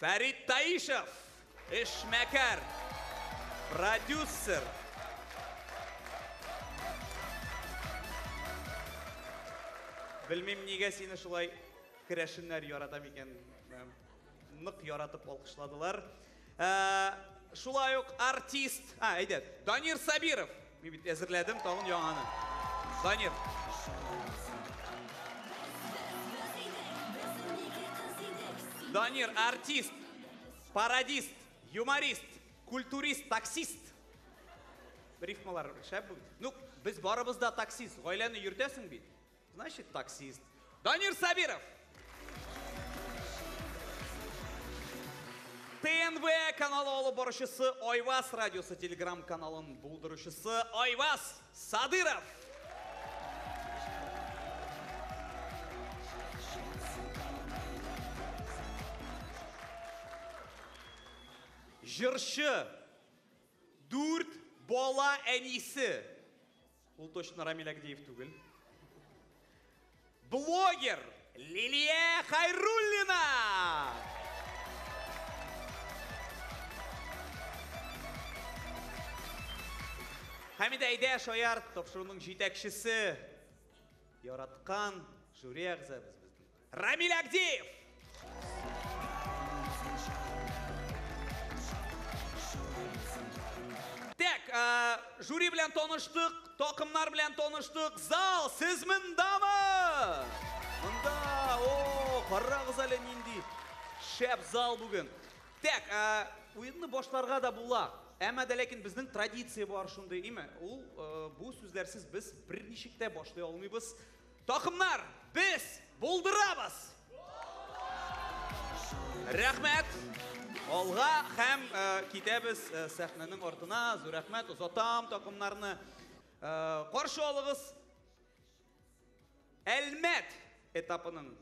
Фәрит Таишев, эшмәкәр, продюсер. Белмим, нигә сине шулай керәшеннәр ярата микән? Нык яратып алкышладылар. Шулай ук артист, әйдә, Данир Сабиров. Мин бит әзерләдем тагын яңаны. Данир. Данир, артист, пародист, юморист, культурист, таксист. Рифмалар шәп. Ну, без барыбыз да таксист. Гаиләне йөртәсең бит. Значит, таксист. Данир Сабиров! ТНВ каналы алып баручысы Айвас радиосы телеграм каналын булдыручысы Айвас Садыров! Җырчы, дүрт бала әнисе, Ул точно Рамиль Агдеев түгел. Блогер Лилия Хайруллина! Хәмидә әйдә шаяр тапшыруның җитәкчесе. Яраткан жюри әгъзабыз. Рамиль Агдеев! Тәк, ә, жюри белән таныштык, токымнар белән таныштык. Зал, сез мындамы? Мында, о, карагыз әле нинди шәп зал бүген. Тәк, ә, уенны башларга да була. Әмма дә ләкин безнең традиция бар шундый, име? Ул, ә, бу сүзләрсез без берничек тә башлый алмыйбыз. Такымнар, без булдырабыз! Рәхмәт! Алга һәм э, китәбез э, сәхнәнең артына. Зур рәхмәт, озатам такымнарны. Э, каршы алыгыз Әлмәт этапының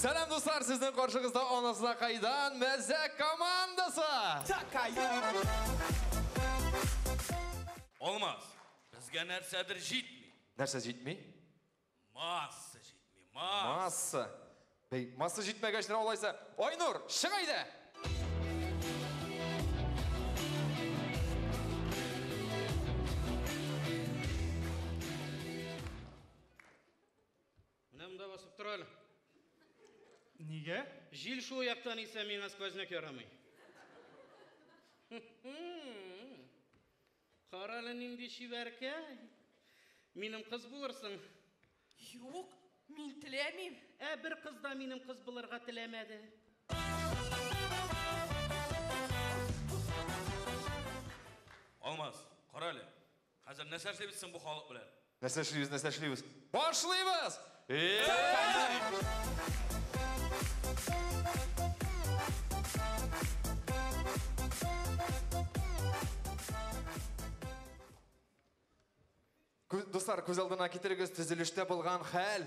Сәлам дуслар, сезнең каршыгызда анасына кайдан мәзәк командасы! Алмаз, безгә нәрсәдер җитми. Нәрсә җитми? Масса җитми, масса. Масса. Бәй, масса җитмәгәч нә алайса. Айнур, чык әйдә! Менә монда басып тор әле. Нигә? Җил шул яктан исә миңа сквозняк ярамый. Кара әле нинди чибәркәй. Минем кыз булырсың. Юк, мин теләмим. Ә бер кыз да минем кыз булырга теләмәде. Алмаз, кара әле. Хәзер нәрсә эшлибез соң бу халык белән? Нәрсә эшлибез, нәрсә эшлибез? Башлыйбыз! Дуслар, күз алдына китерегез төзелештә булган хәл.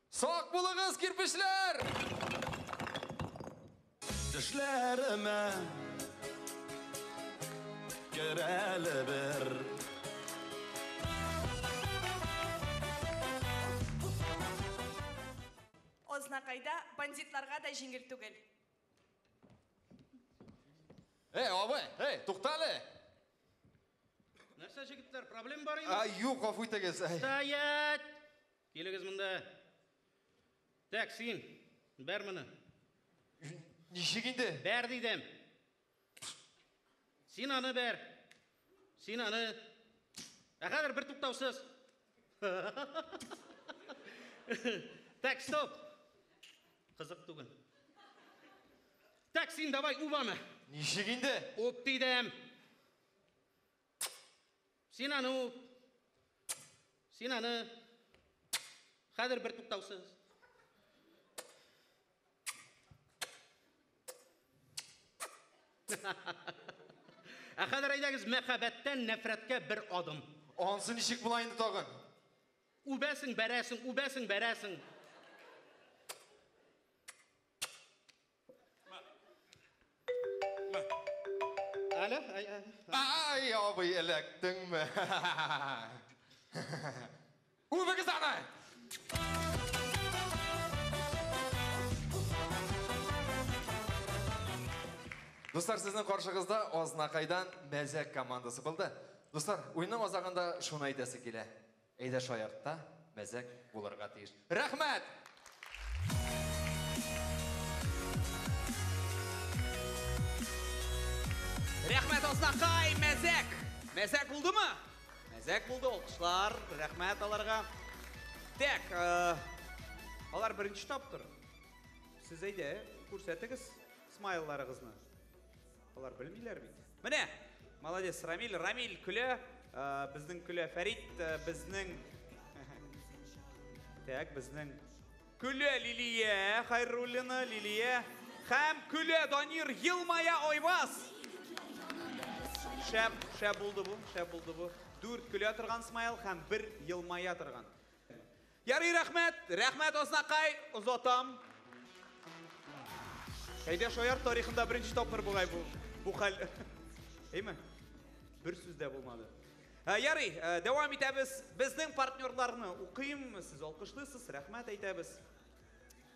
Сак булыгыз, кирпечләр! Төшләремә Керәле бер Азнакайда бандитларга да җиңел түгел. Эй, абый, эй, тукта әле! Нәрсә, җегетләр, проблем бар инде? Юк, гафу итегез. Стоять! Килегез монда. Тәк, син, бәр моны. Ничек инде? Бәр дидем. Син аны бәр. Син аны. Ә хәзер бер туктаусыз. Так, стоп. Кызык түгел. Так, син давай убаны. Ничек инде? Уп дидем. Син аны үп. Син аны хәзер бер туктаусыз. Ә хәзер әйдәгез мәхәббәттән нәфрәткә бер адым. Ансы ничек була инде тагын? Үбәсең, бәрәсең, үбәсең, бәрәсең. Әле? Ай, абый, эләктеңме? Үбегез аны! Дуслар, сезнең каршыгызда Азнакайдан мәзәк командасы булды. Дуслар, уйның азагында шуны әйтәсе килә. Әйдә шаяртта мәзәк булырга тиеш. Рәхмәт! Рәхмәт Азнакай, мәзәк! Мәзәк булдымы? Мәзәк булды, алкышлар, рәхмәт аларга. Тәк, э, алар беренче тапкыр. Сез әйдә, күрсәтегез смайларыгызны. Алар белмиләр бит. Менә! Молодец, Рамиль. Рамиль көлә. Э, безнең көлә Фәрит. Э, безнең... Так, безнең... Көлә Лилия Хайруллина, Лилия. Хәм көлә Данир Елмая Айваз. Шәп, шәп булды бу, шәп булды бу. Дүрт көлә торган смайл хәм бер елмая торган. Ярый рәхмәт! Рәхмәт Азнакай! Озатам! Әйдә шаяр тарихында беренче тапкыр бугай бу бу хәл. Әйме? Бер сүз дә булмады. Ә, ярый, ә, дәвам итәбез. Безнең партнерларны укыйм, сез алкышлыйсыз, рәхмәт әйтәбез.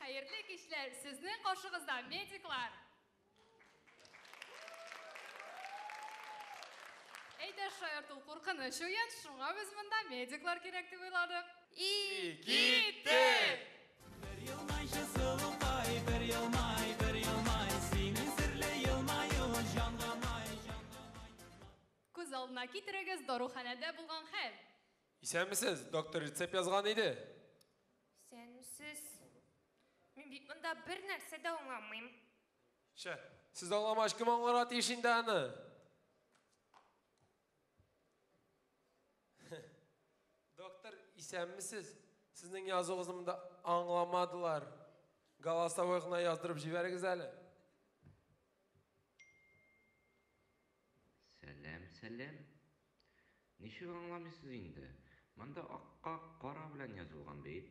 Хәерле кичләр! Сезнең каршыгызда медиклар! Әйдә, шаярт ул куркыныч уен, шуңа без монда медиклар кирәк дип уйладык. И киттек! Бер елмайчы сылукай, бер елмай, бер елмай, синең серле елмаюың җанга май, җанга май. Күз алдына китерегез даруханәдә булган хәл. Исәнмесез, доктор рецепт язган иде. Исәнмесез. Мин бит монда бер нәрсә дә аңламыйм. Чә, сез аңламагач кем аңларга тиеш инде аны? Доктор, исәнмесез? Сезнең язуыгызны монда аңламадылар. Голосовой гына яздырып җибәрегез әле. Сәлам, сәлам. Ничек аңламыйсыз инде? Монда акка кара белән язылган бит.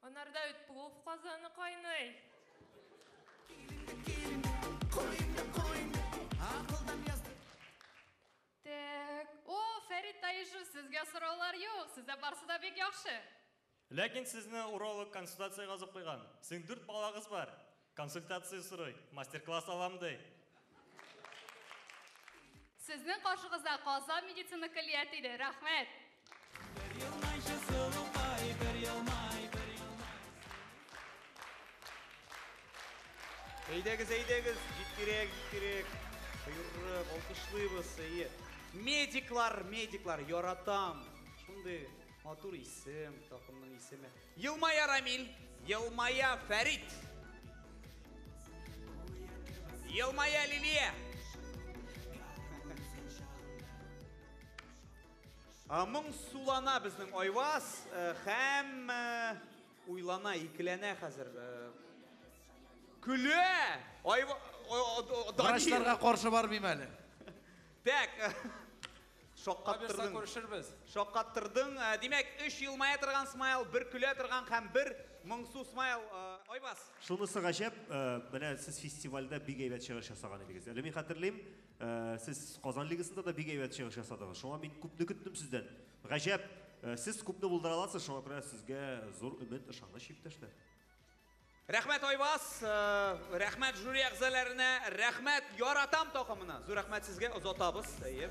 Анарда бит плов казаны кайный! Тәк. О, Фәрит Таишев, сезгә сораулар юк, сездә барсы да бик яхшы. Ләкин сезне уролог консультациягә озып куйган. Сезнең дүрт балагыз бар. Консультация сорый, мастер-класс алам ди. Сезнең каршыгызда Казан медицина көллияте иде. Рәхмәт! Бер елмайчы сылукай, бер елмай, бер елмай сылукай. Әйдәгез, әйдәгез, җиткерәк, җиткерәк. Боерык, алкышлыйбыз, әйе. Медиклар, медиклар, яратам. Шундый матур исем, такымның исеме. Елмая Рамил, елмая Фәрит. Елмая Лилия. Моң сулана безнең Айваз һәм уйлана, икеләнә хәзер. Күле! Врачларга каршы бармыйм әле. Так. Шаккаттырдың. Шаккаттырдың. Димәк, өч елмая торган смайл, бер көлә торган һәм бер моңсу смайл. Айбас. Шунысы гаҗәп, менә сез фестивальдә бик әйбәт чыгыш ясаган идегез. Әле мин хәтерлим, сез Казан лигасында да бик әйбәт чыгыш ясадыгыз. Шуңа мин күпне көттем сездән. Гаҗәп, сез күпне булдыра аласыз, шуңа күрә сезгә зур өмет, ышаныч, иптәшләр. Рәхмәт Айваз, рәхмәт жюри әгъзаләренә, рәхмәт Яратам такымына. Зур рәхмәт сезгә, озатабыз. Әйе.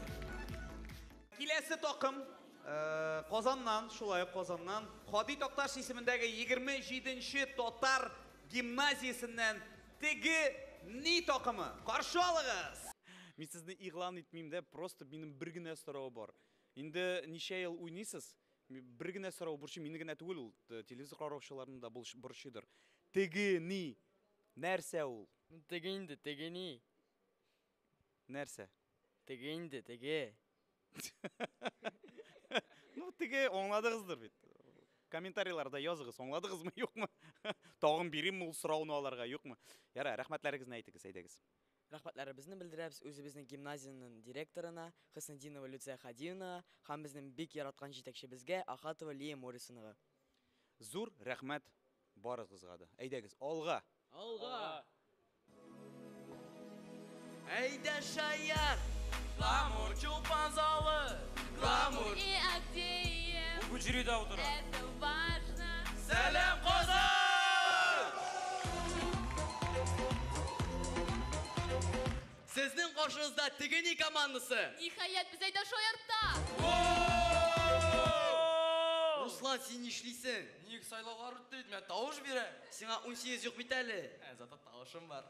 Киләсе такым Казаннан, шулай ук Казаннан, Һади Такташ исемендәге 27 нче татар гимназиясеннән Теге ни такымы. Каршы алыгыз! Мин сезне игълан итмим дә, просто минем бер генә соравы бар. Инде ничә ел уйныйсыз? Бер генә сорау борчый, мине генә түгел ул, телевизор караучыларны да борчыйдыр. Теге ни? Нәрсә ул? Теге инде, теге ни? Нәрсә? Теге инде, теге. Ну, теге аңладыгыздыр бит. Комментарийларда языгыз, аңладыгызмы, юкмы? Тагын бирим ул сорауны аларга, юкмы? Яра, рәхмәтләрегезне әйтегез, әйдәгез. Рәхмәтләребезне белдерәбез үзебезнең гимназиянең директорына Хөснетдинова Люция Хадиевнага һәм безнең бик яраткан җитәкчебезгә Ахатова Лия Морисонага. Зур рәхмәт барыгызга да. Әйдәгез, алга! Алга! Әйдә, шаян! Камыр чулпан залы! Сезнең каршыгызда Тегени командасы! Ниһаять, без әйдә шаярта! Руслан, син нишлисең? Ник сайлаулар үтте бит, мә тавыш бирәм. Сиңа унсигез юк бит әле. Ә, зато тавышым бар.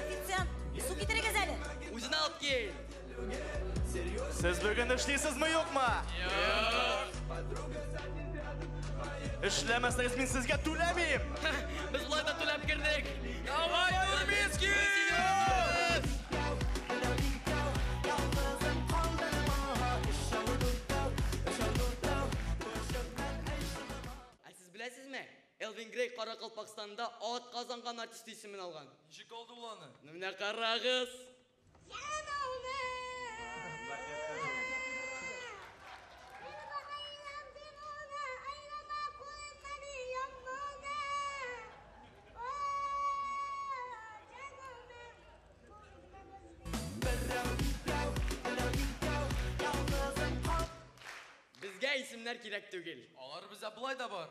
Официант, су китерегез әле. Үзен алып кил. Сез бүген эшлисезме, юкмы? Эшләмәсәгез мин сезгә түләмим. Без болай да түләп кердек. Давай, Нурминский! Ә сез беләсезме? Элвин Грей Каракалпакстанда атказанган артисты исемен алган. Ничек алды ул аны? Менә карагыз! Безгә исемнәр кирәк түгел. Алар бездә болай да бар.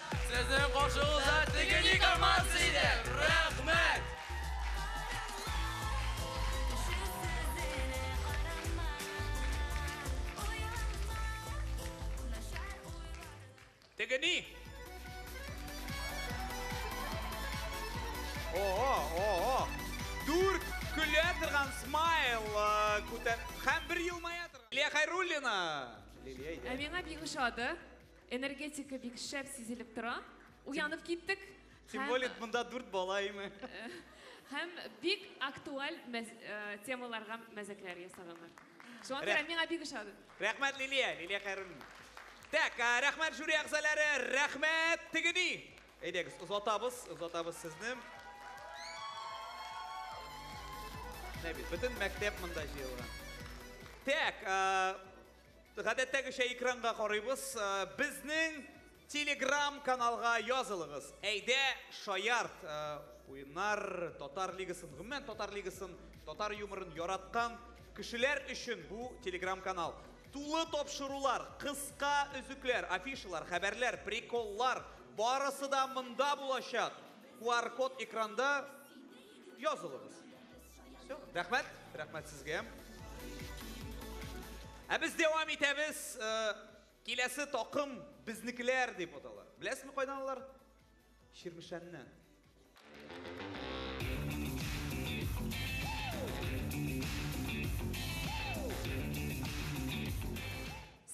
Сезнең каршыгыз да теге ник алмас иде! Рәхмәт! Теге ни? О-о, о-о! Дүрт көлә торган смайл күтәр... Һәм бер елмая торган... Лилия Хәйруллина! Лилия, әйдә. Ә миңа бик ошады. Энергетика бик шәп сизелеп тора. Уянып киттек. Тем более монда дүрт бала име. Һәм бик актуаль э, темаларга мәзәкләр ясаганнар. Шуңа күрә миңа бик ошады. Рәхмәт Лилия, Лилия Хайруллин. Так, э, рәхмәт жюри әгъзалары, рәхмәт тегеди. Әйдәгез, озатабыз, озатабыз сезне. Нәбит, бөтен мәктәп монда җыелган. Так, э, Гадәттәгечә экранга карыйбыз. Безнең Телеграм каналга язылыгыз. Әйдә, шаярт! Уеннар, Татар лигасын, гомумән Татар лигасын, татар юморын яраткан кешеләр өчен бу Телеграм канал. Тулы тапшырулар, кыска өзекләр, афишалар, хәбәрләр, приколлар, барысы да монда булачак. QR-код экранда. Язылыгыз. Все, рәхмәт, рәхмәт сезгә. Ә без дәвам итәбез. Э, киләсе такым безнекеләр дип атала. Беләсезме кайдан алар? Чирмешәннән.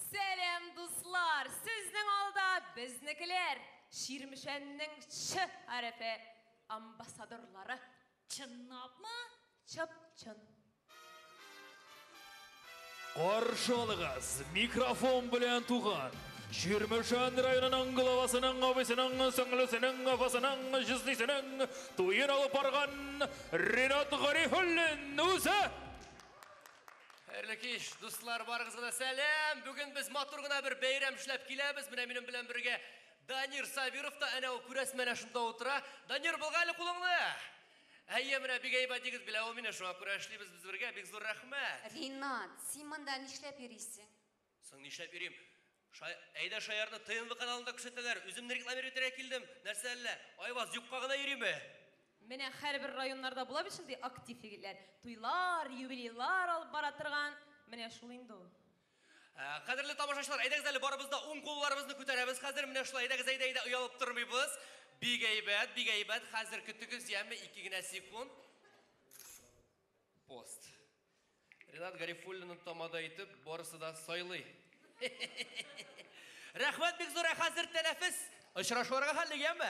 Сәлам, дуслар! Сезнең алда безнекеләр. Чирмешәннең Ч хәрефе. Амбассадорлары. Чынлапмы? Чып-чын. Каршы алыгыз, микрофон белән туган. Чирмешән районының главасының абысының сеңлесенең апасының җизнисенең туен алып барган Ринат Гарифуллин үзе. Хәерле кич, дуслар, барыгызга да сәлам! Бүген без матур гына бер бәйрәм эшләп киләбез. Менә минем белән бергә Данир Сабиров та әнә ул, күрәсең, менә шунда утыра. Данир, былга әле кулыңны! Әйе, менә бик әйбәт егет, белә ул мине, шуңа күрә эшлибез без бергә, бик зур рәхмәт! Ринат, син монда нишләп йөрисең? Соң нишләп йөрим? Ша, әйдә Шаярны ТНВ каналында күрсәтәләр, үземне рекламировать итәргә килдем, нәрсә әллә, Айваз, юкка гына йөриме? Менә һәрбер районнарда була бит шундый актив егетләр, туйлар, юбилейлар алып бара торган, менә шул инде ул. Ә, кадерле тамашачылар, әйдәгез әле барыбыз да ун кулларыбызны күтәрәбез хәзер. Менә шулай, әйдәгез, әйдә, әйдә, оялып тормыйбыз. Бик әйбәт, бик әйбәт. Хәзер көтегез, яме, ике генә секунд. Пост. Ренат Гарифуллинны тамада итеп, барысы да сайлый. Рәхмәт бик зур, ә хәзер тәнәфес. Очрашуларга хәлле, яме.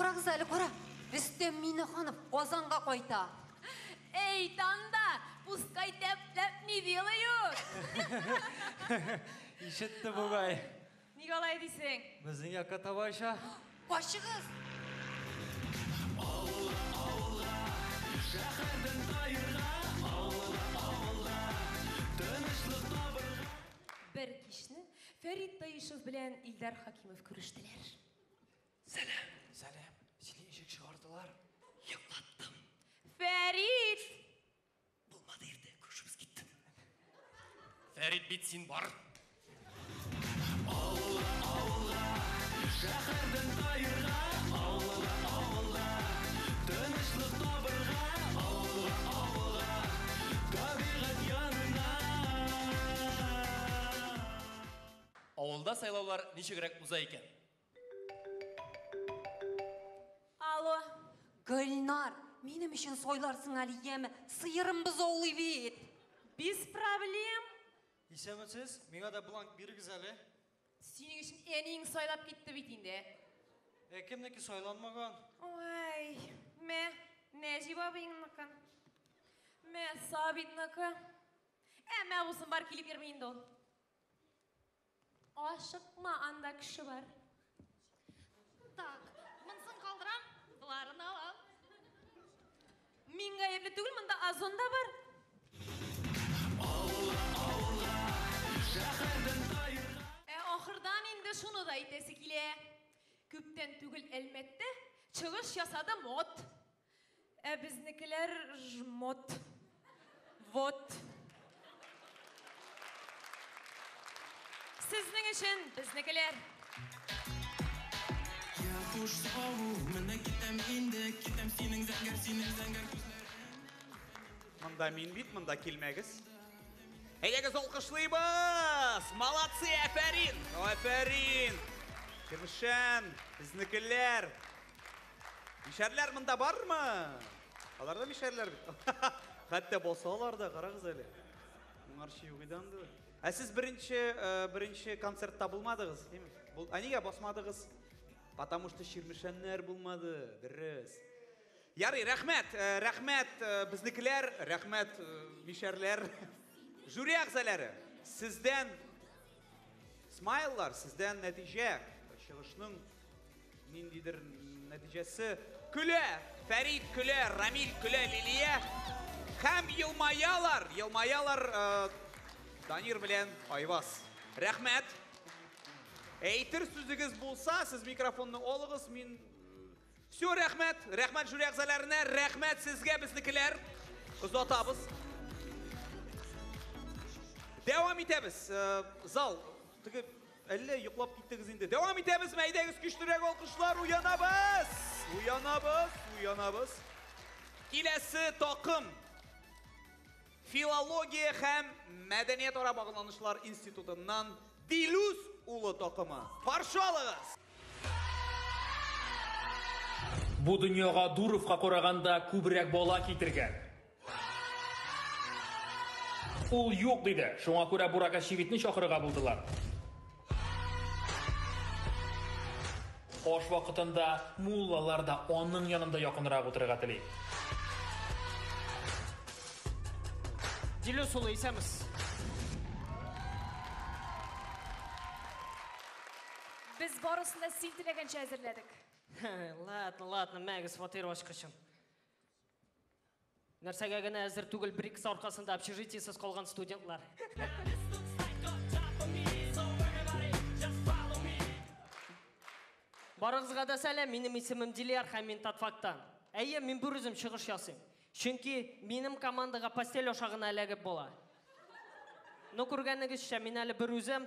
Карагыз әле, кара! Рөстәм Минеханов Казанга кайта! Эй, Танда, пускай тәп-тәп не делают! Ишетте бугай. Ник алай дисең? Безнең якка таба оча. Качыгыз! Бер кичне Фәрит Таишев белән Илдар Хакимов күрештеләр. Сәлам. Сәлам. Сине ишек чыгардылар. Йоклаттым. Фәрит! Булмады иртә, күршебез киттем. Фәрит бит син бар. Авылга, авылга, шәһәрдән каерга, авылга, авылга, тынычлык табырга, авылга, авылга, табигать янына. Авылда сайлаулар ничегрәк уза икән? Алло. Гөлнар, минем өчен сойларсың әле, яме? Сыерым бозаулый бит. Без проблем. Исәнмесез, миңа да бланк бирегез әле. Синең өчен әниең сайлап китте бит инде. Ә кемнеке сайланмаган? Ой, мә, Нәҗип абыйыңныкы. Мә, Сабитныкы. Әмма абыйсын бар килеп йөрми инде ул. Ашыкма, анда кеше бар. Так, монысын калдырам, боларын алам. Мин гаепле түгел, монда озон да бар. Ә ахырдан инде шуны да әйтәсе килә. Күптән түгел Әлмәттә чыгыш ясады мод. Ә безнекеләр жмот. Вот. Сезнең өчен безнекеләр. Я куш саву, менә китәм инде, китәм синең зәңгәр, синең зәңгәр күзләреңнән. Монда мин бит, монда килмәгез. Әйдәгез алкышлыйбыз! Молодцы, әфәрин! Афәрин! Кермешән, безнекеләр! Мишәрләр монда бармы? Алар да мишәрләр бит. Хәтта булсалар да, карагыз әле. Моңарчы юк иде анда. Ә сез беренче э, беренче концертта булмадыгыз, димме? Бул, а нигә басмадыгыз? Потому что Чирмешәннәр булмады, дөрес. Ярый, рәхмәт, э, рәхмәт э, безнекеләр, рәхмәт э, мишәрләр. Жюри әгъзалары, сездән Смайллар сездән нәтиҗә, чыгышның ниндидер нәтиҗәсе. Көлә, Фәрид көлә, Рамил көлә, Лилия. Һәм елмаялар, елмаялар э, Данир белән Айвас. Рәхмәт. Әйтер сүзегез булса, сез микрофонны алыгыз, мин Всё, рәхмәт! Рәхмәт жюри әгъзаләренә, рәхмәт сезгә, безнекеләр! Озатабыз. Дәвам итәбез. Зал, теге, әллә йоклап киттегез инде. Дәвам итәбезме? Әйдәгез, көчлерәк алкышлар, уянабыз! Уянабыз, уянабыз. Киләсе такым, Филология һәм мәдәниятара багланышлар институтыннан Дилүс улы такымы. Каршы алыгыз! Бу дөньяга Дуровка караганда күбрәк бала китергән. Ул юк диде, шуңа күрә Бурак Әчевитне чакырырга булдылар. Аш вакытында муллалар да аның янында якынрак утырырга тели. Дилүс улы, исәнмесез! Без барысын да син теләгәнчә әзерләдек. Ладно, ладно, мәгез фатир ачкычым. Нәрсәгә генә әзер түгел бер икесе аркасында общежитиесез калган студентлар. Барыгызга да сәлам, минем исемем Дилияр һәм мин Татфактан. Әйе, мин бер үзем чыгыш ясыйм. Чөнки минем командага постель аша гына эләгеп була. Ну, күргәнегезчә, мин әле бер үзем,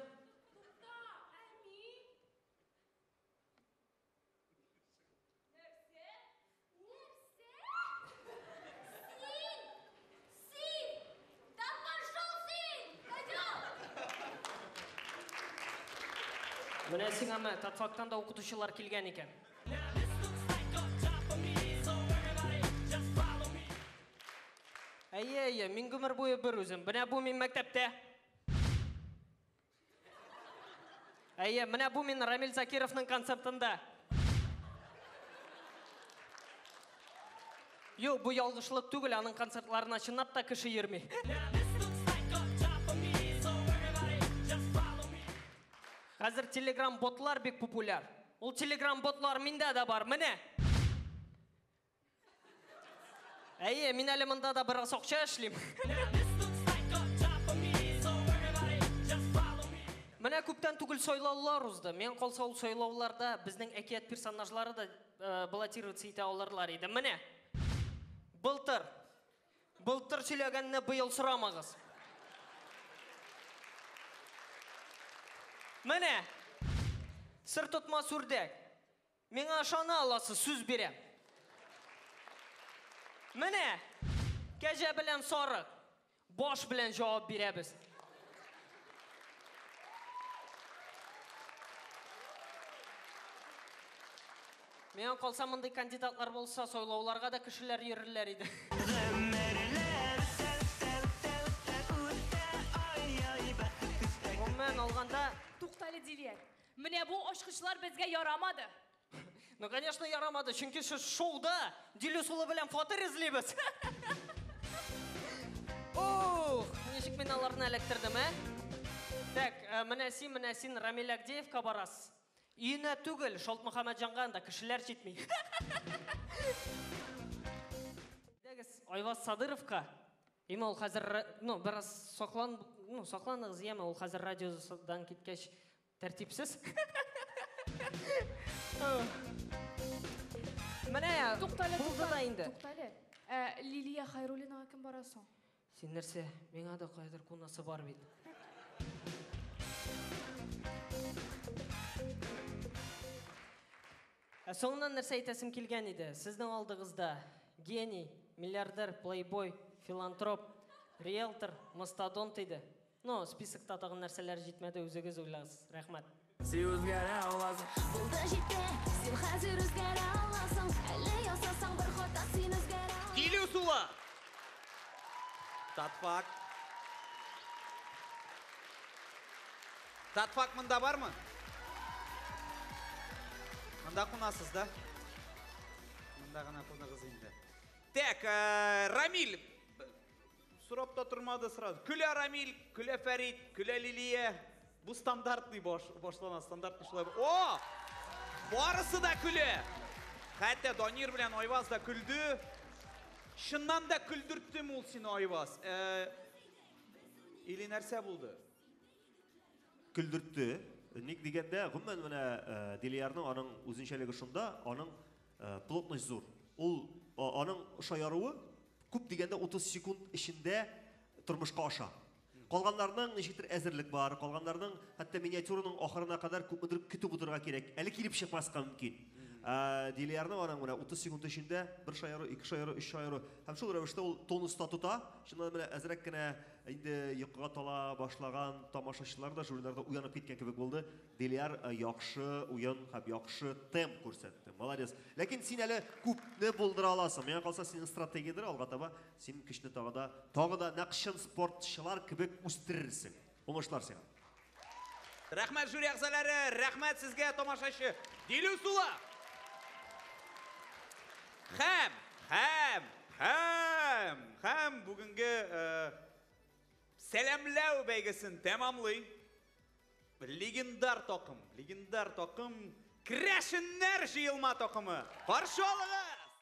Менә сиңа мә, Татфактан да укытучылар килгән икән. Әйе, әйе, мин гомер буе бер үзем. Менә бу мин мәктәптә. Әйе, менә бу мин Рамил Закировның концертында. Юк, бу ялгышлык түгел, аның концертларына чынлап та кеше йөрми. Хәзер телеграм-ботлар бик популяр. Ул телеграм-ботлар миндә дә бар, менә! Әйе, мин әле монда да бераз акча эшлим. Менә күптән түгел сайлаулар узды. Миңа калса, ул сайлауларда безнең әкият персонажлары да баллотироваться итә алырлар иде. Менә! Былтыр! Былтыр сөйләгәнне быел сорамагыз. Менә! Сыр тотмас үрдәк! Миңа ышана аласыз, сүз бирәм. Менә, кәҗә белән сарык, баш белән җавап бирәбез. Миңа калса, мондый кандидатлар булса, сайлауларга да кешеләр йөрерләр иде. Гомумән алганда. Туктале, Дилиәк. Менә бу ачкычлар безгә ярамады. Ну, конечно, ярамады, чөнки шу- шоуда Дилүс улы белән фатир эзлибез. Ух, ничек мин аларны эләктердем, ә? Так, э, менә син, менә син Рамил Агдеевка барасыз. Өенә түгел, Шалт Мөхәммәтҗанга анда кешеләр җитми. Әйдәгез, Айваз Садыровка. Яме ул хәзер, ну, бераз саклан, ну, сакланыгыз, яме ул хәзер радиодан киткәч тәртипсез. Менә туктале, булды да инде. Туктале. Ә Лилия Хайруллинага кем бара соң? Син нәрсә? Миңа да кайдыр кунасы бар бит. Ә соңыннан нәрсә әйтәсем килгән иде, сезнең алдыгызда гений, миллиардер, плейбой, филантроп, риэлтор, мастодонт иде. Ну, списокта тагын нәрсәләр җитмәде, үзегез уйлагыз. Рәхмәт. Син үзгәрә аласың. Булды җитте, син хәзер үзгәрә аласың. Әле ясасаң бер хата, син үзгәрә аласың. Килү суы! Татфак. Татфак монда бармы? Монда кунасыз да? Монда гына куныгыз инде. Так, э, Рамиль. Сорап та тормады сразу. Күлә Рамиль, Күлә Фәрид, Күлә Лилия. Бу стандартный баш, башлана, стандартный шулай. О! Барысы да күлә. Хәтта Данир белән Айваз да күлде. Шыннан да күлдерттем ул сине, Айваз. Э, или нәрсә булды? көлдертте. Ник дигәндә, гомумән менә Делиярның аның үзенчәлеге шунда, аның плотность зур. Ул аның шаяруы күп дигәндә 30 секунд эчендә тормышка аша. Калганнарның ничектер әзерлек бар, калганнарның хәтта миниатюраның ахырына кадәр күпмедер көтеп утырырга кирәк. Әле килеп чыкмаска мөмкин. Ә Делиярның аның менә 30 секунд эчендә бер шаяру, ике шаяру, өч шаяру һәм шул рәвештә ул тонуста тота. Чыннан да менә әзрәк кенә Инде йокыга тала башлаган тамашачылар да жюриларда уянып киткән кебек булды. Дилиар э, яхшы уен һәм яхшы темп күрсәтте. Молодец. Ләкин син әле күпне булдыра аласың. Миңа калса, синең стратегиядер алга таба син көчне тагы да, тагы да нәкъ чын спортчылар кебек үстерерсең. Уңышлар сиңа. Рәхмәт, жюри әгъзаләре! Рәхмәт сезгә, тамашачы! Дилү сула! Хәм! Хәм! Хәм! Хәм! Бүгенге сәламләү бәйгесен тәмамлый. Легендар такым, легендар такым, Крәшеннәр җыелма такымы! Каршы алыгыз!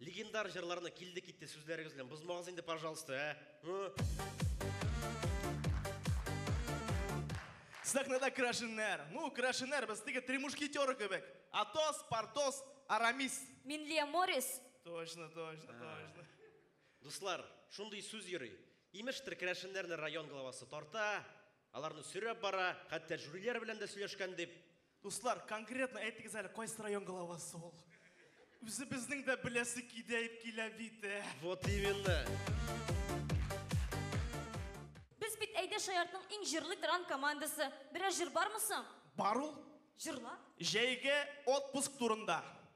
Легендар җырларны килде китте сүзләрегез белән бозмагыз инде, пожалуйста, ә? Ы? Сәхнәдә керәшеннәр. Ну, керәшеннәр без теге три мушкетера кебек. Атос, Портос, Арамис. Минлия Морис. Точно, точно, точно. Дуслар, шундый сүз йөри. Имештер, керәшеннәрне район главасы тарта, аларны сөйрәп бара, хәтта жюриләр белән дә сөйләшкән дип. Дуслар, конкретно әйтегез әле, кайсы район главасы ул? Үзебезнең дә беләсе кидәеп килә бит. Э. Вот именно. Без бит әйдә шаяртның иң җырлы тран командасы. Берәр җыр бармы соң? Бар ул. Җырла. Җәйге отпуск турында.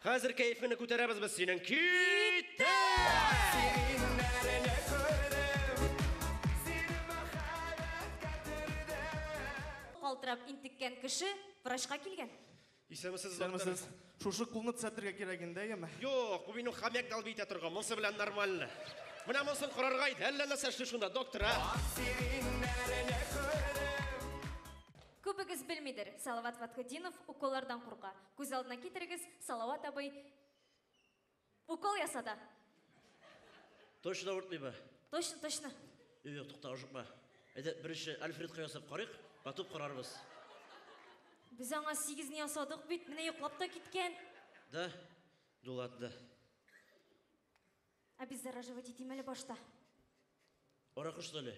Хәзер кәефеңне күтәрәбез без синең. Киттек! Калтырап интеккән кеше врачка килгән. Исәнмесез, доктор. Исәнмесез. Шушы кулны төзәтергә кирәк инде, әйеме? Юк, бу минем хомяк дал бит торган. Монсы белән нормально. Менә монсын карарга иде. Әллә нәрсә эшли шунда, доктор, а? Күбегез белмидер, Салават Фатхетдинов уколлардан курка. Күз алдына китерегез, Салават абый укол ясады. Точно авыртмыймы? Точно, точно. Юк, юк, тукта, ашыкма. Әйдә, беренче Альфредка ясап карыйк, потом карарбыз. Без аңа сигезне ясадык бит, менә йоклап та киткән. Да? Ну ладно. Обеззараживать итим әле башта. Аракы что ли?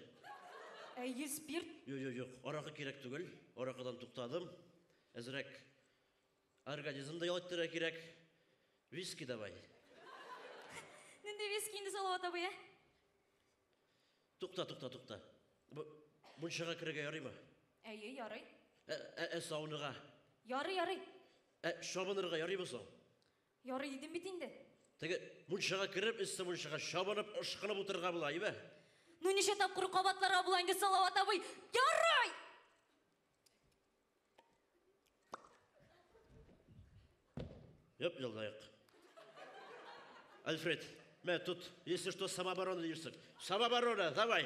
Әйе, спирт. Юк, юк, юк, аракы кирәк түгел. Аракыдан туктадым. Әзрәк организмда ял иттерә кирәк. Виски давай. Нинди виски инде Салават абый, ә? Тукта, тукта, тукта. Бу мунчага керергә ярыймы? Әйе, ярый. Ә, ә, ә сауныга? Ярый, ярый. Ә чабынырга ярыймы соң? Ярый дидем бит инде. Теге мунчага кереп, өсте мунчага чабынып, ышкынып утырырга була, әйеме? Ну ничә тапкыр кабатларга була инде, Салават абый? Ярый! Йоп, елдайык. Альфред, мә, тут, если что, самооборона дирсек. Самооборона, давай!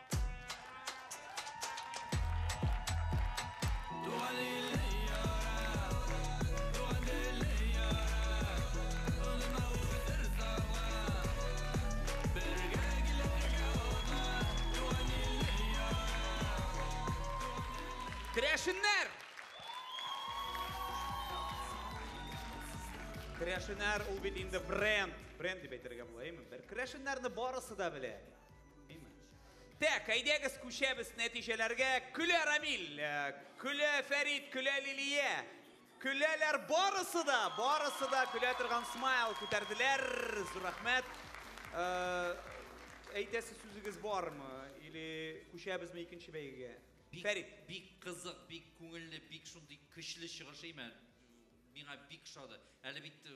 Керәшеннәр! Керәшеннәр ул бит инде бренд. Бренд дип әйтергә була, әйеме? Бер керәшеннәрне барысы да белә. Так, әйдәгез күчәбез нәтиҗәләргә. Көлә Рамил, э, көлә Фәрид, көлә Лилия. Көләләр барысы да, барысы да көлә торган смайл күтәрделәр. Зур рәхмәт. Э, әйтәсе сүзегез бармы? Или күчәбезме икенче бәйгегә? Фәрид. Бик кызык, бик күңелле, бик шундый көчле чыгыш имән. Миңа бик шады. Әле бит э,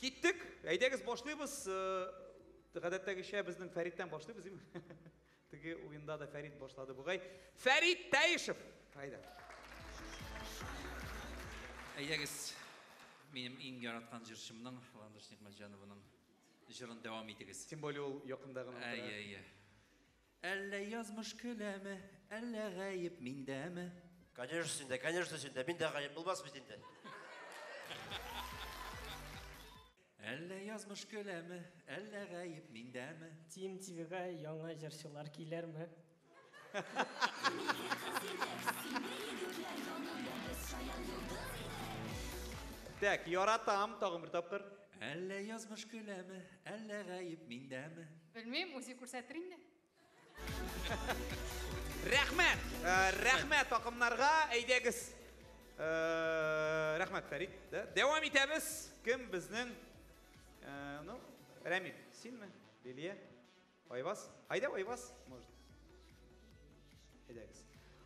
Киттек! Әйдәгез башлыйбыз. Гадәттәгечә безнең Фәриттән башлыйбыз, дим. Теге уенда да Фәрит башлады бугай. Фәрит Тәешев! Әйдә. Әйдәгез, минем иң яраткан җырчымның, Ландыш Нигъмәтҗановның җырын дәвам итегез. Тем более ул якында гына утыра. Әйе, әйе. Әллә язмыш көләме, әллә гаеп миндәме? Конечно синдә, конечно синдә, миндә гаеп булмас бит инде. Әллә язмыш көләме, әллә гаеп миндәме? TMTV-га яңа җырчылар килерме? Так, яратам, тагын бер тапкыр. Әллә язмыш көләме, әллә гаеп миндәме? Белмим, үзе күрсәтер инде. Рәхмәт! Э, рәхмәт такымнарга. Әйдәгез. Э, рәхмәт, Фәрит. Дәвам итәбез. Кем безнең? Э, ну, Рәмил, синме? Лилия? Айваз? Айда Айваз? Может. Әйдәгез.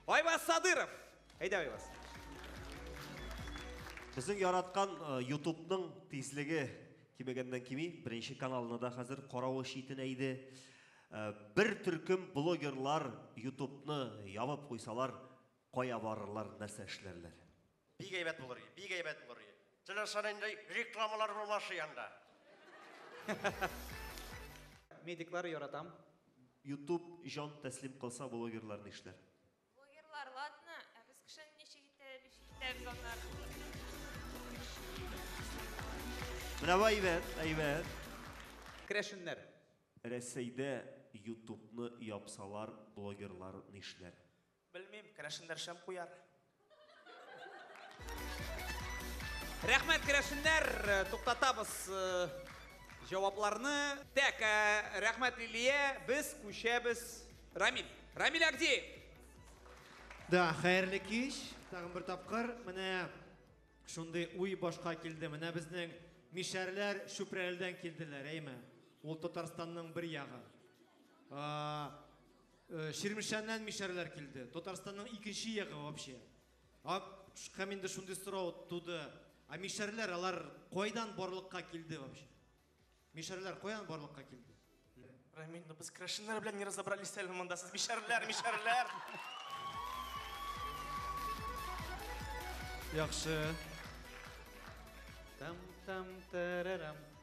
Айваз Садыров! Әйдә Айваз. Безнең яраткан YouTube-ның тизлеге Кимегәннән кими, беренче каналны да хәзер каравы читенә иде. Бер төркем блогерлар ютубны ябып куйсалар, кая барырлар, нәрсә эшләрләр? Бик әйбәт булыр иде, бик әйбәт булыр иде. Теләсә нинди рекламалар булмас иде анда. Медиклар яратам. Ютуб җан тәслим кылса, блогерлар нишләр? Блогерлар ладно, ә без кешене ничек итә, ничек итәбез аннары? Менә бу әйбәт, әйбәт. Крәшеннәр. Рәсәйдә ютубны япсалар блогерлар нишләр? Белмим, крәшеннәр шәм куяр. Рәхмәт, керәшеннәр, туктатабыз э, җавапларны. Так, э, рәхмәт, Лилия, без күчәбез. Рамиль, Рамиль Агдеев. Да, хәерле кич. Тагын бер тапкыр менә шундый уй башка килде. Менә безнең мишәрләр Чүпрәледән килделәр, әйме? Ул Татарстанның бер ягы. Чирмешәннән мишәрләр килде. Татарстанның икенче ягы вообще. Һәм инде шундый сорау туды. А мишәрләр алар кайдан барлыкка килде вообще? Мишәрләр каян барлыкка килде? Рамиль, ну без крашеннар белән не разобрались әле монда. Сез мишәрләр, мишәрләр. Яхшы. Там-там-тарарам.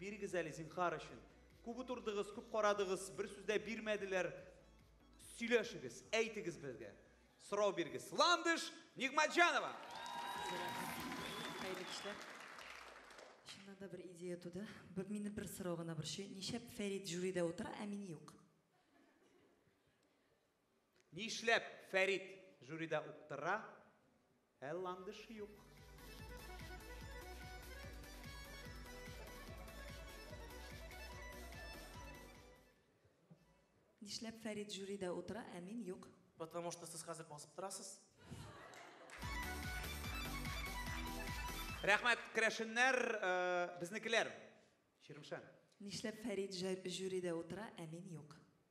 Бирегез әле, зинхар өчен. Күп утырдыгыз, күп карадыгыз, бер сүз дә бирмәделәр. Сөйләшегез, әйтегез безгә. Сорау бирегез. Ландыш Нигматҗанова. Хәерле кичләр. Чыннан да бер идея туды. Бер мине бер сорау гына борчый. Ничәп Фәрит жюрида утыра, ә мин юк? Нишләп Фәрит жюрида уктыра, ә Ландыш юк? Нишләп Фәрит жюрида утыра, ә мин юк? Потому что сез хәзер басып торасыз. Рәхмәт, керәшеннәр, безнекеләр. Чирмешән. Нишләп Фәрит жюрида утыра, ә мин юк?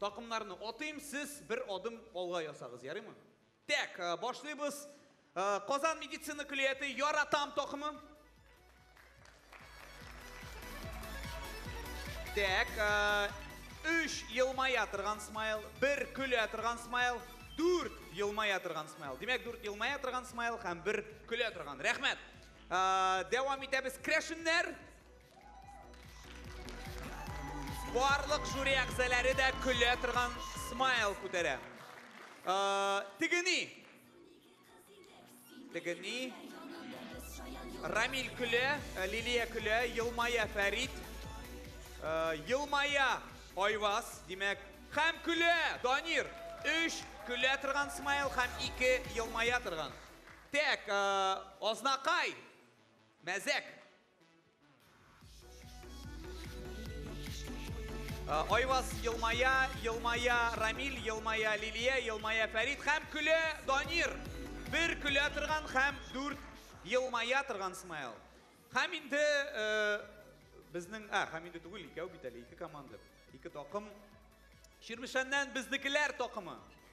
Такымнарны атыйм, сез бер адым алга ясагыз, ярыймы? Тәк, башлыйбыз. Казан медицина көллияте Яратам такымы. Тәк, 3 елмая торган смайл, 1 көлә торган смайл, 4 елмая торган смайл. Димәк, 4 елмая торган смайл һәм 1 көлә торган. Рәхмәт. Дәвам итәбез. Крәшеннәр. Барлык жюри әгъзалары да көлә торган смайл күтәрә. Тегени. Тегени. Рамиль көлә, Лилия көлә, елмая Фәрит. Елмая Айваз, димәк, һәм көлә Данир. Өч көлә торган смайл һәм ике елмая торган. Тәк, Азнакай, мәзәк. Э, Айваз елмая, елмая Рамил, елмая Лилия, елмая Фәрид һәм көлә Данир. Бер көлә торган һәм дүрт елмая торган смайл. Һәм инде э, безнең, ә, һәм инде түгел, икәү бит әле, ике команда, ике токым. Ширмешәннән безнекеләр токымы.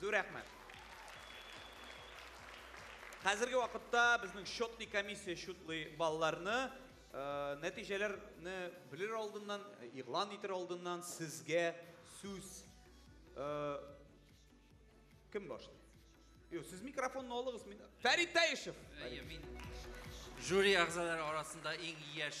Зур рәхмәт. Хәзерге вакытта безнең счетный комиссия счетлый балларны, нәтиҗәләрне белер алдыннан, игълан итер алдыннан сезгә сүз кем башлый? Юк, сез микрофонны алыгыз, мин Фәрит Таишев. Әйе, мин жюри әгъзалары арасында иң яшь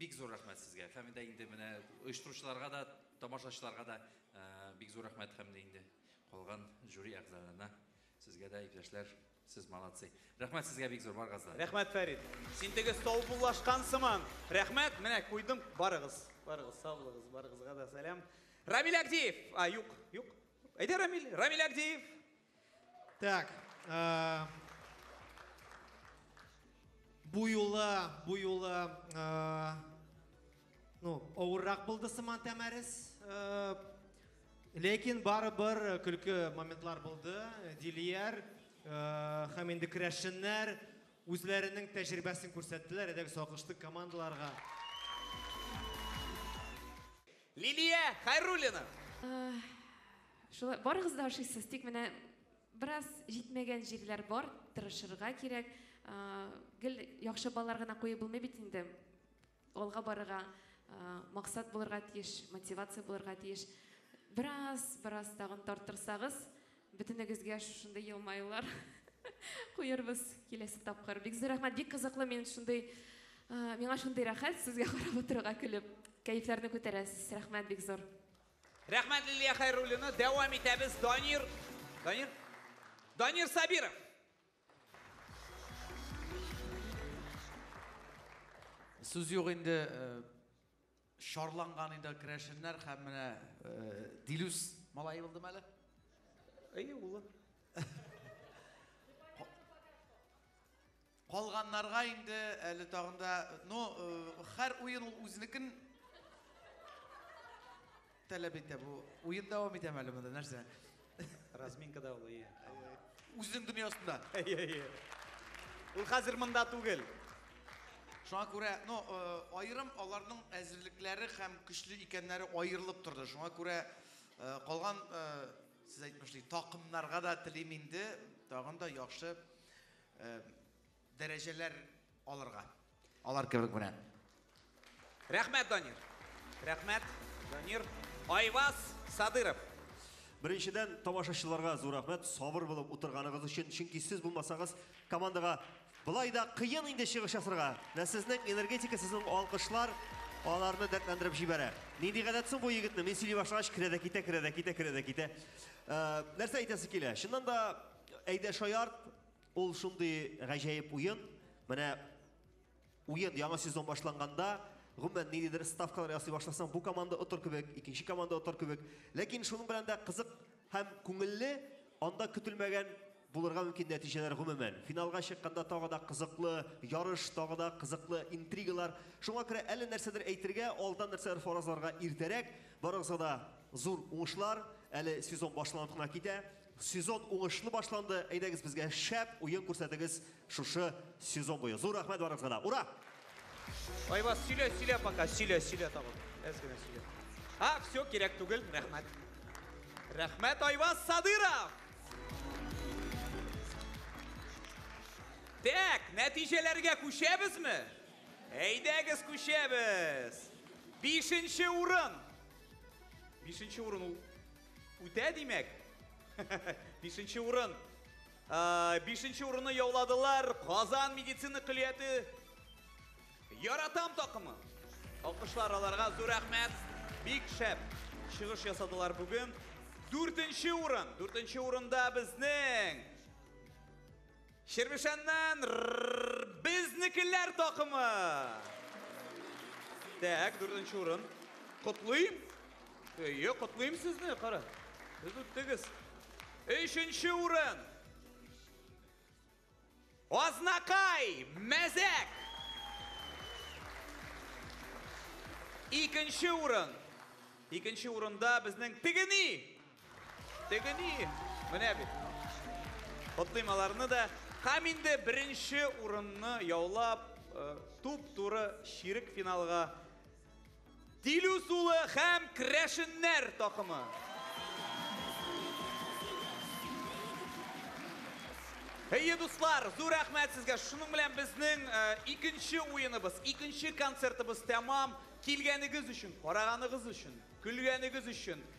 Бик зур рәхмәт сезгә һәм дә инде менә оештыручыларга да, тамашачыларга да бик зур рәхмәт һәм дә инде калган жюри әгъзаларына. Сезгә дә, иптәшләр, сез молодцы. Рәхмәт сезгә бик зур, барыгыз да. Рәхмәт, Фәрит. Син теге саубуллашкан сыман. Рәхмәт, менә куйдым. Барыгыз, барыгыз, сау булыгыз, барыгызга да сәлам. Рамил Агдиев! А, юк, юк. Әйдә, Рамил, Рамил Агдиев! Так. Э, бу юлы, бу юлы, э, ну, авыррак булды сыман тәмәрес. Э, ләкин барыбер көлке моментлар булды. Дилияр һәм инде керәшеннәр үзләренең тәҗрибәсен күрсәттеләр, әдәк сакышты командаларга. Лилия Хайруллина. Шулай барыгыз да ашыйсыз, тик менә бераз җитмәгән җирләр бар, тырышырга кирәк. Гел яхшы балалар гына куеп булмый бит инде. Алга барырга максат булырга тиеш, мотивация булырга тиеш. Бераз, бераз тагын тартырсагыз, бөтенегезгә шушындый елмаюлар куербыз киләсе тапкыр. Бик зур рәхмәт, бик кызыклы, мин шундый, миңа шундый рәхәт сезгә карап утырырга, көлеп, кәефләрне күтәрәсез. Рәхмәт бик зур. Рәхмәт, Лилия Хәйруллина. Дәвам итәбез. Данир. Данир. Данир Сабиров. Сүз юк инде, шарланган инде керәшеннәр һәм менә Дилүс малае булдымы әле? Әйе, улы. Калганнарга инде әле тагын да, ну, хәр уен ул үзенекен таләп итә бу. Уен дәвам итәме әле монда, нәрсә? Разминка да ул, ие. Үзенең дөньясында. Ие, ие. Ул хәзер монда түгел. Шуңа күрә, ну, аерым аларның әзерлекләре һәм көчле икәннәре аерылып торды. Шуңа күрә калган, сез әйтмешли, такымнарга да телим инде тагын да яхшы Дәрәҗәләр алырга. Алар кебек менә. Рәхмәт, Данир. Рәхмәт, Данир. Айваз Садыров. Беренчедән, тамашачыларга зур рәхмәт, сабыр булып утырганыгыз өчен, чөнки сез булмасагыз, командага былай да кыен инде чыгыш ясарга. Менә сезнең энергетика, сезнең алкышлар аларны дәртләндереп җибәрә. Нинди гадәт соң бу егетне? Мин сөйли башлагач, керә дә китә, керә дә китә, керә дә китә. Нәрсә әйтәсе килә? Чыннан да, Әйдә шаярт, ул шундый гаҗәеп уен. Менә уен яңа сезон башланганда, гомумән ниндидер ставкалар ясый башласаң, бу команда отыр кебек, икенче команда отыр кебек. Ләкин шуның белән дә кызык һәм күңелле, анда көтелмәгән булырга мөмкин нәтиҗәләр гомумән. Финалга чыкканда тагы да кызыклы ярыш, тагы да кызыклы интригалар. Шуңа күрә әле нәрсәдер әйтергә, алдан нәрсәдер фаразларга иртәрәк. Барыгызга да зур уңышлар. Әле сезон башланып кына китә. Сезон уңышлы башланды, әйдәгез безгә шәп уен күрсәтегез шушы сезон буе. Зур рәхмәт барыгызга да. Ура! Айваз, сөйлә, сөйлә пока, сөйлә, сөйлә тагын. Әз генә сөйлә. А, все, кирәк түгел, рәхмәт. Рәхмәт, Айваз Садыров! Тәк, нәтиҗәләргә күчәбезме? Әйдәгез күчәбез! Бишенче урын! Бишенче урын ул Үтә димәк. Бишенче урын. Ә, Бишенче урынны яуладылар Казан медицина көллияте Яратам такымы. Алкышлар аларга зур рәхмәт. Бик шәп чыгыш ясадылар бүген. Дүртенче урын. Дүртенче урында безнең Чирмешәннән безнекеләр такымы! Так, дүртенче урын. Котлыйм! Әйе, котлыйм сезне, кара. Сез үттегез. Өченче урын. Азнакай, мәзәк! Икенче урын. Икенче урында безнең тегени! Теге ни, менә бит. Котлыйм аларны да. Һәм инде беренче урынны яулап, туп-туры чирек финалга Дилүс улы һәм Крәшеннәр такымы. Әйе, дуслар, зур рәхмәт сезгә. Шуның белән безнең икенче уеныбыз, икенче концертыбыз тәмам. Килгәнегез өчен, караганыгыз өчен, көлгәнегез өчен.